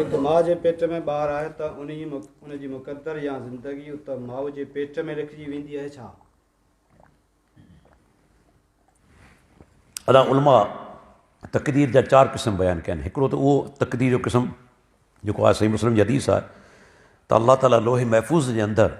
هڪ ماء جي پيٽ ۾ ٻار آهي ته ان جي مقدر يا زندگي اتي ماء جي پيٽ ۾ لکجي ويندي آهي ڇا؟ ادا علماء تقدير جا چار قسم بيان ڪيا آهن هڪڙو ته اهو تقدير جو قسم جيڪو آهي صحيح مسلم جي حديث آهي ته الله تعاليٰ لوح محفوظ جي اندر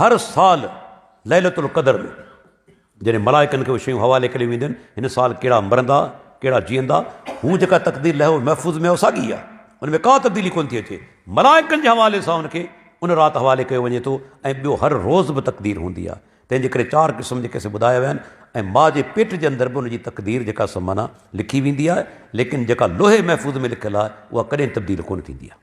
هر سال ليلة القدر ۾ جڏهن ملائڪن کي اهي شيون حوالي ڪريون وينديون آهن، هن سال ڪهڙا مرندا، ڪهڙا جيئندا، هو جيڪا تقدير لوح محفوظ ۾ آهي اها ساڳي آهي، ان ۾ ڪا تبديلي ڪونه ٿي اچي، ملائڪن جي حوالي سان ان کي ان رات حوالي ڪيو وڃي ٿو ۽ ٻيو هر روز به تقدير هوندي آهي، تنهن جي ڪري چار قسم جيڪي اسين ٻڌايا ويا آهن ۽ ماء جي پيٽ جي اندر به ان جي تقدير جيڪا سا معنيٰ لکي ويندي آهي، ليڪن جيڪا لوح محفوظ ۾ لکيل آهي اها ڪڏهن تبديل ڪونه ٿيندي آهي.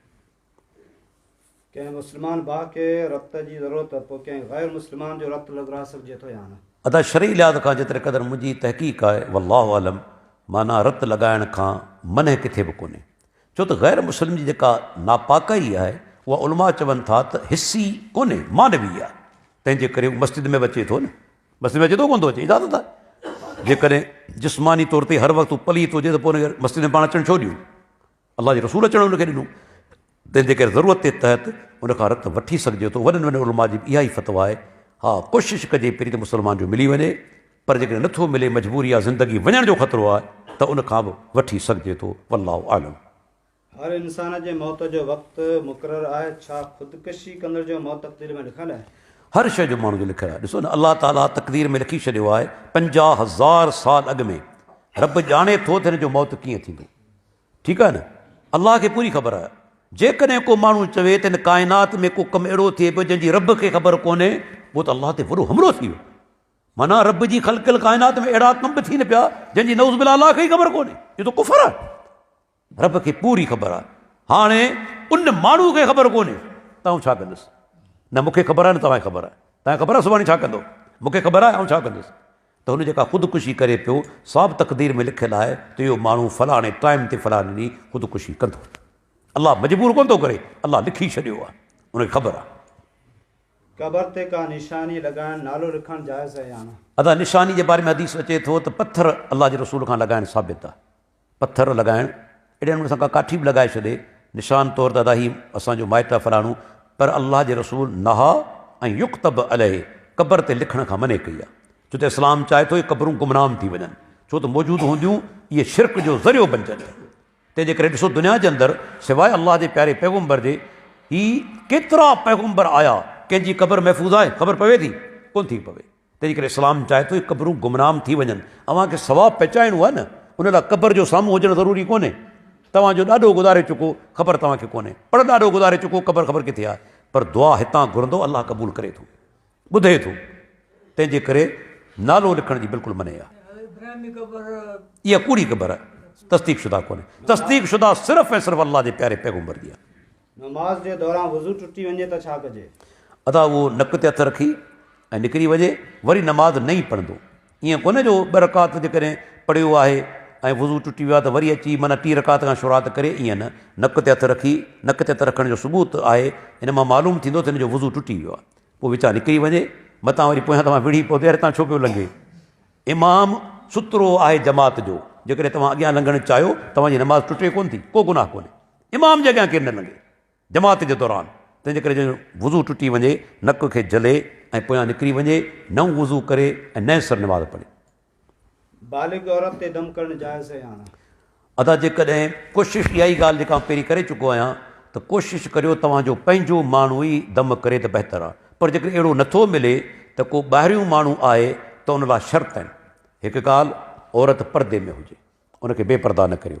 ڪنهن مسلمان ڀاء کي رت جي ضرورت ته پوء ڪنهن غير مسلمان جو رت لڳرائي سگهجي ٿو يا نه؟ ادا شرعي لحاظ کان جيتري قدر منهنجي تحقيق آهي والله اعلم معنيٰ رت لڳائڻ کان منع ڪٿي به ڪونهي ڇو ته غير مسلم جي جيڪا ناپاڪائي آهي اها علماء چون ٿا ته حسي ڪونهي معنوي آهي تنهنجي ڪري هو مسجد ۾ به اچي ٿو نه مسجد ۾ اچي ٿو ڪونه ٿو اچي اجازت آهي جيڪڏهن جسماني طور تي هر وقت هو پليت هجي ته پوء هن کي مسجد ۾ پاڻ اچڻ ڇو ڏيون الله جي رسول اچڻ ان کي ڏنو تنهن جي ڪري ضرورت جي تحت ان کان رت وٺي سگهجي ٿو وڏن وڏن علماء جي به اها ئي فتويٰ آهي ها ڪوشش ڪجي پرين ته مسلمان جو ملي وڃي پر جيڪڏهن نٿو ملي مجبوري آهي زندگي وڃڻ جو خطرو آهي ته ان کان به وٺي سگهجي ٿو والله اعلم. هر انسان جي موت جو وقت مقرر آهي ڇا خودڪشي ڪندڙ جو موت تقدير ۾ لکيل آهي؟ هر شيء جو ماڻهو جو لکيل آهي ڏسو نه الله تعاليٰ تقدير ۾ لکي ڇڏيو آهي پنجاهه هزار سال اڳ ۾ رب ڄاڻي ٿو ته هن جو موت ڪيئن ٿيندو ٺيڪ آهي نه؟ الله کي پوري خبر آهي. جيڪڏهن ڪو ماڻهو چوي ته هن ڪائنات ۾ ڪو ڪم اهڙو ٿئي پيو جنهن جي رب کي خبر ڪونهي پوء ته الله تي وڏو حملو ٿي ويو. معنيٰ رب جي خلقيل ڪائنات ۾ اهڙا ڪم به ٿين پيا جنهن جي نعوذ بالله الله کي ئي خبر ڪونهي. اهو ته ڪفر آهي. رب کي پوري خبر آهي. هاڻي ان ماڻهو کي خبر ڪونهي ته آئون ڇا ڪندس. نه مون کي خبر آهي نه توهان کي خبر آهي. توهان کي خبر آهي سڀاڻي ڇا ڪندو. مون کي خبر آهي آئون ڇا ڪندس. ته هن جيڪا خودڪشي ڪري پيو، سا به تقدير ۾ لکيل آهي ته اهو ماڻهو فلاڻي ٽائيم تي فلاڻي ڏينهن خودڪشي ڪندو. الله مجبور ڪونه ٿو ڪري، الله لکي ڇڏيو آهي، ان کي خبر آهي. قبر تي ڪا نشاني لڳائڻ، نالو لکڻ جائز آهي يا نه؟ ادا نشاني جي باري ۾ حديث اچي ٿو ته پٿر الله جي رسول کان لڳائڻ ثابت آهي. پٿر لڳائڻ، اهڙي نموني سان ڪا ڪاٺي به لڳائي ڇڏي، نشان طور ته ادا هي اسان جو مائٽ آ فلاڻو، پر الله جي رسول نهٰي ان يڪتب عليه، قبر تي لکڻ کان منع ڪئي آ، ڇو ته اسلام چاهي ٿو اهي قبرون گمنام ٿي وڃن، ڇو ته موجود هونديون اهي شرڪ جو ذريعو بنجن ٿيون، تنهن جي ڪري ڏسو دنيا جي اندر سواء الله جي پياري پيغمبر جي هي ڪيترا پيغمبر آيا ڪنهن جي قبر محفوظ آهي خبر پوي ٿي، ڪونه ٿي پوي. تنهنجي ڪري اسلام چاهي ٿو هي قبرون گمنام ٿي وڃن. اوهان کي ثواب پهچائڻو آهي نه، ان لاء قبر جو سامهون هجڻ ضروري ڪونهي. توهان جو ڏاڏو گذاري چڪو، خبر توهان کي ڪونهي. پڙ ڏاڏو گذاري چڪو، قبر خبر ڪٿي آهي. پر دعا هتان گهرندو، الله قبول ڪري ٿو، ٻڌي ٿو. تنهنجي ڪري نالو لکڻ جي بلڪل منع آهي. اها ڪوڙي قبر آهي، تصديق شده ڪونهي. تصديق شده صرف ۽ صرف الله جي پياري پيغمبر جي آهي. نماز جي دوران وضو ٽٽي وڃي ته ڇا ڪجي؟ ادا اهو نڪ تي هٿ رکي ۽ نڪري وڃي وري نماز نه ئي پڙهندو ائين ڪونه جو ٻه رڪعت جيڪڏهن پڙهيو آهي ۽ وضو ٽٽي ويو آهي ته وري اچي معنيٰ ٽي رڪعت کان شروعات ڪري ائين نه نڪ تي هٿ رکي نڪ تي هٿ رکڻ جو ثبوت آهي ان مان معلوم ٿيندو ته هن جو وضو ٽٽي ويو آهي پوء وچان نڪري وڃي متان وري پويان توهان وڙهي پوندي هتان ڇو پيو لنگهي امام سترو آهي جماعت جو جيڪڏهن توهان اڳيان لنگهڻ چاهيو توهان جي نماز ٽٽي ڪونه ٿي ڪو گناهه ڪونهي امام جي اڳيان ڪير نه لنگهي جماعت جي دوران، تنهن جي ڪري جنهن جو وضو ٽٽي وڃي، نڪ کي جهلي ۽ پويان نڪري وڃي، نئون وضو ڪري ۽ نئين سر نماز پڙهي. بالغ عورت تي دم ڪرڻ جائز يا نه؟ ادا جيڪڏهن ڪوشش اها ئي ڳالهه جيڪا آئون پهرين ڪري چڪو آهيان ته ڪوشش ڪريو توهان جو پنهنجو ماڻهو ئي دم ڪري ته بهتر آهي پر جيڪڏهن اهڙو نه ٿو ملي ته ڪو ٻاهريون ماڻهو آهي ته ان لاء شرط آهن هڪ ڳالهه عورت پردي ۾ هجي ان کي بي پرده نه ڪريو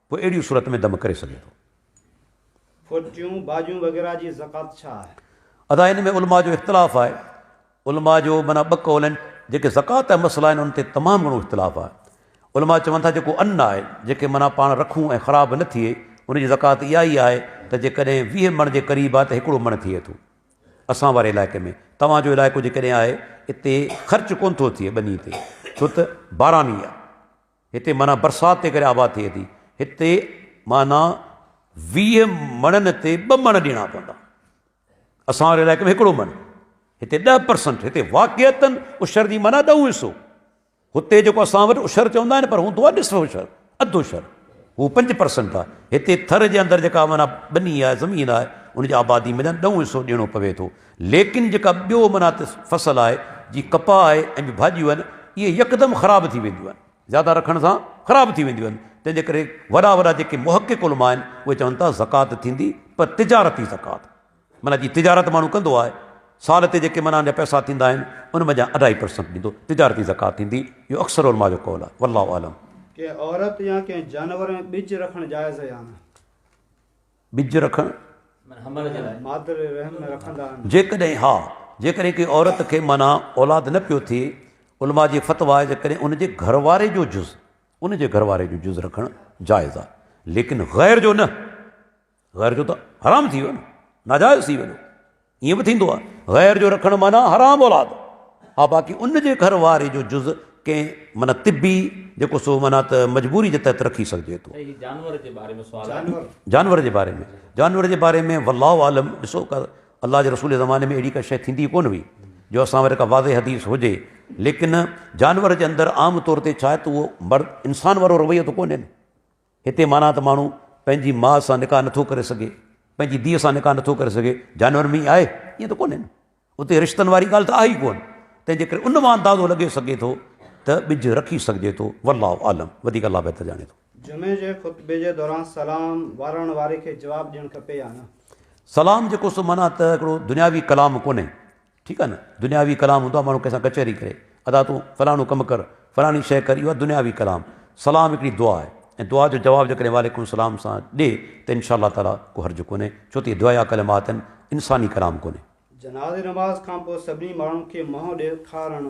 پوء اهڙيء صورت ۾ دم ڪري سگهي ٿو. ڦوٽيون، ڀاڄيون وغيره جي زڪوات ڇا آهي؟ ادا ان ۾ علماء جو اختلاف آهي. علماء جو معنيٰ ٻه قول آهن. جيڪي زڪوات جا مسئلا آهن ان تي تمام گهڻو اختلاف آهي. علماء چون ٿا جيڪو ان آهي، جيڪي معنيٰ پاڻ رکون ۽ خراب نه ٿئي، ان جي زڪوات اها ئي آهي ته جيڪڏهن ويهه مڻ جي قريب آهي ته هڪڙو مڻ ٿئي ٿو. اسان واري علائقي ۾ توهان جو علائقو جيڪڏهن آهي اتي خرچ ڪونه ٿو ٿئي ٻني تي ڇو ته باراني آهي. هتي معنيٰ برسات تي ڪري آباد ٿئي ٿي. هتي معنيٰ ويهه مڻن تي ٻه مڻ ڏيڻا پوندا. اسان واري علائقي ۾ هڪڙو مڻ. هتي ڏهه پرسنٽ. هتي واقعيتن عشر جي معنيٰ ڏهون حصو. هتي جيڪو اسان وٽ عشر چوندا آهن پر هوندو آهي نصف عشر، اڌ عشر. هو پنج پرسنٽ آهي. هتي ٿر جي اندر جيڪا معنيٰ ٻني آهي، زمين آهي، ان جي آبادي مڃان ڏهون حصو ڏيڻو پوي ٿو. ليڪن جيڪا ٻيو معنيٰ تي فصل آهي، جيئن ڪپاهه آهي ۽ ٻيون ڀاڄيون آهن، اهي يڪدم خراب ٿي وينديون آهن، زياده رکڻ سان خراب ٿي وينديون آهن، تنهن جي ڪري وڏا وڏا جيڪي محقق علماء آهن، اهي چون ٿا زڪوات ٿيندي پر تجارتي زڪوات، معنيٰ جيئن تجارت ماڻهو ڪندو آهي، سال تي جيڪي معنيٰ ان جا پئسا ٿيندا آهن، ان مان جيان اڍائي پرسنٽ ڏيندو، تجارتي زڪوات ٿيندي، اهو اڪثر علماء جو قول آهي، والله اعلم. ڪنهن عورت يا ڪنهن جانور ۾ ٻج رکڻ جائز يا نه؟ ٻج رکڻ جيڪڏهن ها جيڪڏهن ڪنهن عورت کي معنيٰ اولاد نه پيو ٿئي علماء جي فتويٰ آهي جيڪڏهن ان جي گهر واري جو جز ان جي گهر واري جو جز رکڻ جائز آهي ليڪن غير جو نه غير جو ته حرام ٿي ويو نه ناجائز ٿي ويو ائين به ٿيندو آهي غير جو رکڻ معنيٰ حرام اولاد ها باقي ان جي گهر واري جو جز ڪنهن معنيٰ طبي جيڪو سو معنيٰ ته مجبوري جي تحت رکي سگهجي ٿو. سائين جانور جي باري ۾ سوال آهي. جانور جي باري ۾ جانور جي باري ۾ والله اعلم ڏسو ڪا الله جي رسول جي زماني ۾ اهڙي ڪا شي ٿيندي ڪون هئي جو اسان وٽ ڪا واضح حديث هجي ليڪن جانور جي اندر عام طور تي ڇا آهي ته اهو مرد انسان وارو رويو ته ڪونهي نه هتي معنيٰ ته ماڻهو پنهنجي ماء سان نڪاح نٿو ڪري سگهي، پنهنجي ڌيء سان نڪاح نٿو ڪري سگهي، جانورن ۾ ئي آهي؟ ائين ته ڪونهي نه. اتي رشتن واري ڳالهه ته آهي ئي ڪونه. تنهن جي ڪري ان مان اندازو لڳي سگهي ٿو ته ٻج رکي سگهجي ٿو. والله اعلم، وڌيڪ الله بهتر ڄاڻي ٿو. جمعي جي خطبي جي دوران سلام وارڻ واري کي جواب ڏيڻ کپي يا نه؟ سلام جيڪو سو معنيٰ ته هڪڙو دنياوي ڪلام ڪونهي. ٺيڪ آهي نه دنياوي ڪلام هوندو آهي ماڻهو ڪنهن سان ڪچهري ڪري ادا تون فلاڻو ڪم ڪر فلاڻي شي ڪر اهو آهي دنياوي ڪلام سلام هڪڙي دعا آهي ۽ دعا جو جواب جيڪڏهن وعليڪم السلام سان ڏي ته انشاء الله تعالٰي ڪو حرج ڪونهي ڇو ته اهي دعائيه ڪلمات آهن انساني ڪلام ڪونهي. جنازي نماز کان پوء سڀني ماڻهن کي منهن ڏيکارڻ.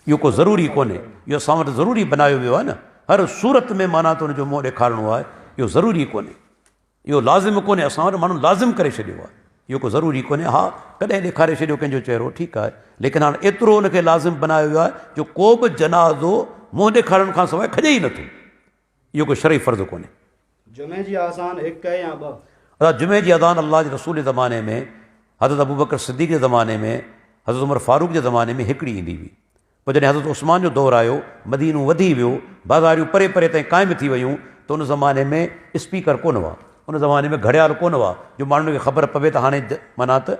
اهو ڪو ضروري ڪونهي اهو اسان وٽ ضروري بنايو ويو آهي نه هر صورت ۾ معنيٰ ته ان جو منهن ڏيکارڻو آهي اهو ضروري ڪونهي. اهو لازم ڪونهي اسان وٽ ماڻهن لازم ڪري ڇڏيو آهي اهو ڪو ضروري ڪونهي ها ڪڏهن ڏيکاري ڇڏيو ڪنهن جو چهرو ٺيڪ آهي ليڪن هاڻ ايترو ان کي لازم بنايو ويو آهي جو ڪو به جنازو منهن ڏيکارڻ کان سواء کڄي ئي نٿو اهو ڪو شرعي فرض ڪونهي جمعي جي آذان هڪ يا ٻه ادا جمعي جي آذان الله جي رسول جي زماني ۾ حضرت ابوبڪر صديق جي زماني ۾ حضرت عمر فاروق جي زماني ۾ هڪڙي ايندي هئي پوء جڏهن حضرت عثمان جو دور آيو، مدينو وڌي ويو، بازاريون پري پري تائين قائم ٿي ويون ته ان زماني ۾ اسپيڪر ڪونه هئا، ان زماني ۾ گهڙيال ڪونه هئا جو ماڻهن کي خبر پوي ته هاڻي معنيٰ ته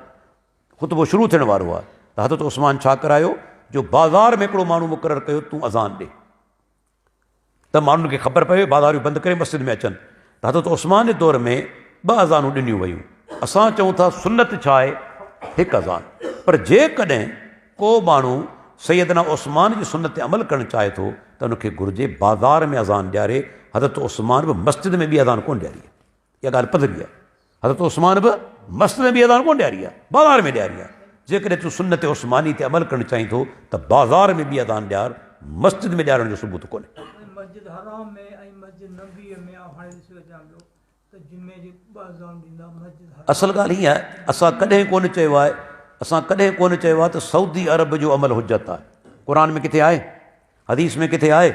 خطبو شروع ٿيڻ وارو آهي ته حضرت عثمان ڇا ڪرايو جو بازار ۾ هڪڙو ماڻهو مقرر ڪيو تون اذان ڏي. ته ماڻهن کي خبر پوي بازاريون بند ڪري مسجد ۾ اچن ته حضرت عثمان جي دور ۾ ٻه اذانون ڏنيون ويون اسان چئون ٿا سنت ڇا آهي هڪ اذان پر جيڪڏهن ڪو ماڻهو سيدنا عثمان جي سنت تي عمل ڪرڻ چاهي ٿو ته ان کي گهرجي بازار ۾ اذان ڏياري حضرت عثمان به مسجد ۾ ٻي اذان ڪونه ڏياري اها ڳالهه پڌري آهي. حضرت عثمان به مسجد ۾ بيهي اذان ڪونه ڏياري آهي، بازار ۾ ڏياري آهي. جيڪڏهن تون سنت عثماني تي عمل ڪرڻ چاهين ٿو ته بازار ۾ بيهي اذان ڏيار، مسجد ۾ ڏيارڻ جو ثبوت ڪونهي. مسجد حرام ۾ ۽ مسجد نبوي ۾ آء هاڻي ڏسي اچان پيو ته جمعي جي ٻه اذان ڏيندا مسجد حرام اصل ڳالهه هي آهي اسان ڪڏهن ڪونه چيو آهي اسان ڪڏهن ڪونه چيو آهي ته سعودي عرب جو عمل حجت آهي قرآن ۾ ڪٿي آهي حديث ۾ ڪٿي آهي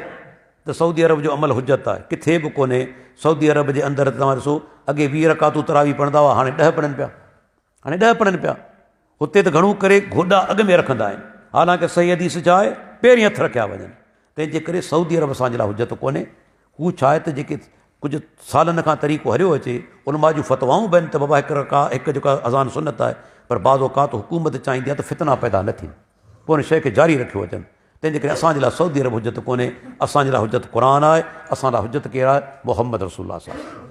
ته سعودي عرب جو عمل حجت آهي؟ ڪٿي به ڪونهي، سعودي عرب جي اندر ته توهان ڏسو اڳي ويهه رڪعتون تراويح پڙهندا هئا هاڻي ڏهه پڙهن پيا، هاڻي ڏهه پڙهن پيا، هتي ته گهڻو ڪري گوڏا اڳ ۾ رکندا آهن، حالانڪه صحيح حديث ڇا آهي پهرين هٿ رکيا وڃن، تنهنجي ڪري سعودي عرب اسان جي لاء حجت ڪونهي، هو ڇا آهي ته جيڪي ڪجهه سالن کان طريقو هليو اچي، علماء جون فتوائون به آهن ته بابا هڪ رڪعت هڪ جيڪا اذان سنت آهي پر بعض اوقات حڪومت چاهيندي آهي ته فتنا پيدا نه ٿين، پوء ان شيء کي جاري رکيو اچن، تنهن جي ڪري اسان جي لاء سعودي عرب حجت ڪونهي، اسان جي لاء حجت قرآن آهي، اسان لاء حجت ڪير آهي؟ محمد رسول الله صلي الله عليه وسلم.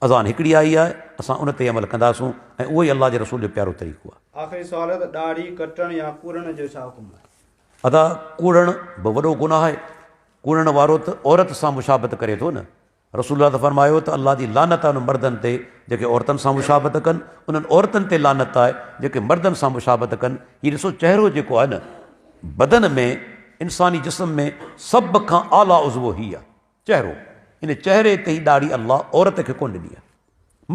اذان هڪڙي آئي آهي، اسان ان تي ئي عمل ڪنداسون ۽ اهو ئي الله جي رسول جو پيارو طريقو آهي. آخري سوال آهي ته ڏاڙهي ڪٽڻ يا ڪوڙڻ جو ڇا حڪم آهي؟ ادا ڪوڙڻ به وڏو گناهه آهي، ڪوڙڻ وارو ته عورت سان مشابهت ڪري ٿو نه، رسول الله ته فرمايو ته الله جي لعنت آهي انهن مردن تي جيڪي عورتن سان مشابهت ڪن، انهن عورتن تي لعنت آهي جيڪي مردن سان مشابهت ڪن. هي ڏسو چهرو جيڪو آهي نه بدن ۾ انساني جسم ۾ سڀ کان اعليٰ عضوو هي آهي چهرو ان چهري تي هي ڏاڙهي الله عورت کي ڪونه ڏني آهي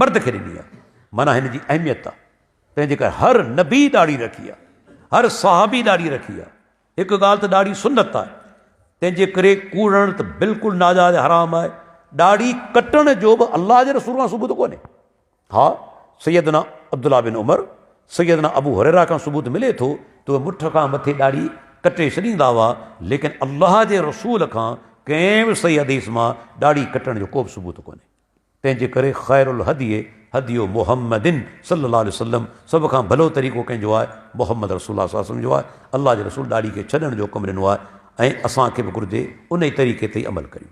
مرد کي ڏني آهي معنيٰ هن جي اهميت آهي تنهنجي ڪري هر نبي ڏاڙهي رکي آهي هر صحابي ڏاڙهي رکي آهي هڪ ڳالهه ته ڏاڙهي سنت آهي، تنهن جي ڪري ڪوڙڻ ته بلڪل ناجائز ۽ حرام آهي. ڏاڙهي ڪٽڻ جو به الله جي رسول کان ثبوت ڪونهي. ها، سيدنا عبدالله بن عمر، سيدنا ابو هريره کان ثبوت ملي ٿو ته اهي مٺ کان مٿي ڏاڙهي ڪٽي ڇڏيندا هئا، ليڪن الله جي رسول کان ڪنهن به صحيح حديث مان ڏاڙهي ڪٽڻ جو ڪو به ثبوت ڪونهي. تنهن جي ڪري خير الهدي هدي محمد صلي الله عليه وسلم، سڀ کان ڀلو طريقو ڪنهن جو آهي؟ محمد رسول الله صلي الله عليه وسلم جو آهي. الله جي رسول ڏاڙهي کي ڇڏڻ جو حڪم ڏنو آهي ۽ اسان کي به گهرجي انهي طريقي تي ئي عمل ڪريون.